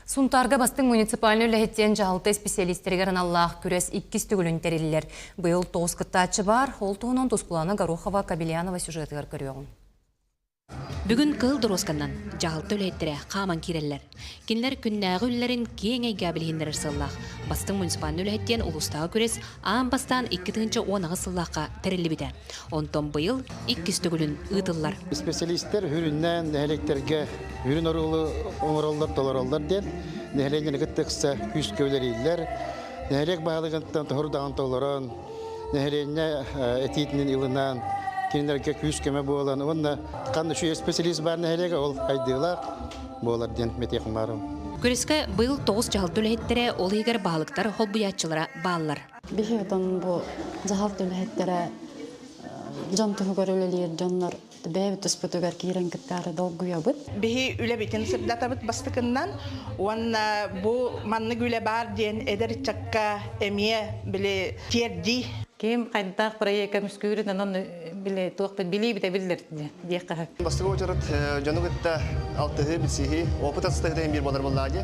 Сунтаарга бастыҥ муниципальнай үлэһиттэн дьаһалта исписэлиистэригэр аналлаах күрэс иккис төгүлүн тэриллэр. Быйыл тоҕус кыттааччы баар, ол туһунан Тускулана Горохова Кобелянова сюжетыгар көрүөҕүҥ. Бүгүн Кыыл доруосканан дьаһалта үлэһиттэрэ хааман киирэллэр. Кинилэр күннээҕи үлэлэрин киэҥ эйгэҕэ билиһиннэрэр сыаллаах. Бастыҥ муниципальнай үлэһит диэн улуустааҕы күрэс аан бастаан икки тыһыынча уон аҕыс сыллаахха тэриллибитэ. Онтон быйыл иккис төгүлүн ыытыллар. Специалистар үрүннээн нэһилиэктэргэ үрүн оруолу оҥороллор, толороллор диэн нэһилиэнньэни кытта ыкса күүскэ үлэлииллэр. Нэһилиэк баһылыгыттан тоһурдаҕын толорон, нэһилиэнньэ этиитинэн ылынан, кинилэргэ күүс-көмө буолан уонна ханна үчүгэй специалист баар нэһилиэгэ ол айдыылаах буолар диэн мэтиэх умаарым. Күрэскэ быйыл тоҕус дьаһалта үлэһиттэрэ, ол иһигэр баһылыктар, холбуйааччылара бааллар. Биһиги бу дьаһалт үлэһиттэрэ дьон туһугар үлэлиир дьоннор бэйэбит туспутугар киирэн кыттаары долгуйабыт. Биһи үлэбитин сырдатабыт бастакыннан уонна бу маннык үлэ баар диэн эдэр ыччакка эмиэ били тиэрдии. Ким хайдах проекка мускүүрүн онон били туох билии бүтэ биллэр диэххэ. Бастыгы уочарат дьону кытта алтыһыы, билсиһии, опыт астыһыта биир буолар буоллаа дии.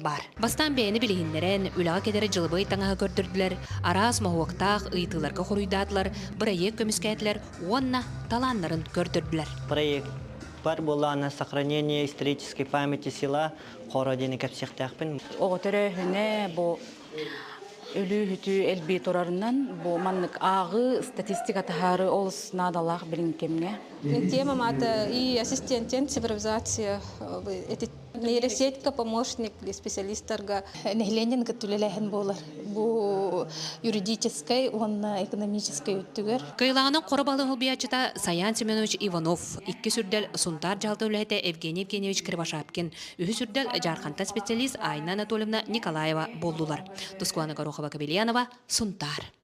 Бар. Бастаан бэйэни билиһиннэрэн, үлэҕэ кэтэр дьылыбыай таҥаһы көрдөрдүлэр, араас моһуоктаах ыйытыыларга хоруйдаатылар, бырайыак көмүскээтилэр уонна талааннарын көрдөрдүлэр. Проектпар буолаана Сохранение исторической памяти села Хоро диэни кэпсиэхтээхпин. Оҕо төрөөһүнэ бу өлүү-үтүү элбии турарынан бу маннык ааҕыы, статистика таһаарыы олус наадалаах билиҥ кэмҥэ. Тема-мата и ассистентен цифровизация Нейросетька помощник, специалистарга нэһилиэнньэн кытта үлэлээһин буолар бу юридическай уонна экономическай өттүгэр. Кыйылаҕынан хоро балыһы убиячыта Саян Семенович Иванов, иккис үрдэл Сунтаар дьалта үлэһитэ Евгений Евгеньевич Кривошапкин, үһүс үрдэл Жарханта специалист Айна Анатольевна Николаева буоллулар. Тускуана Горохова-Кобельянова, Сунтаар.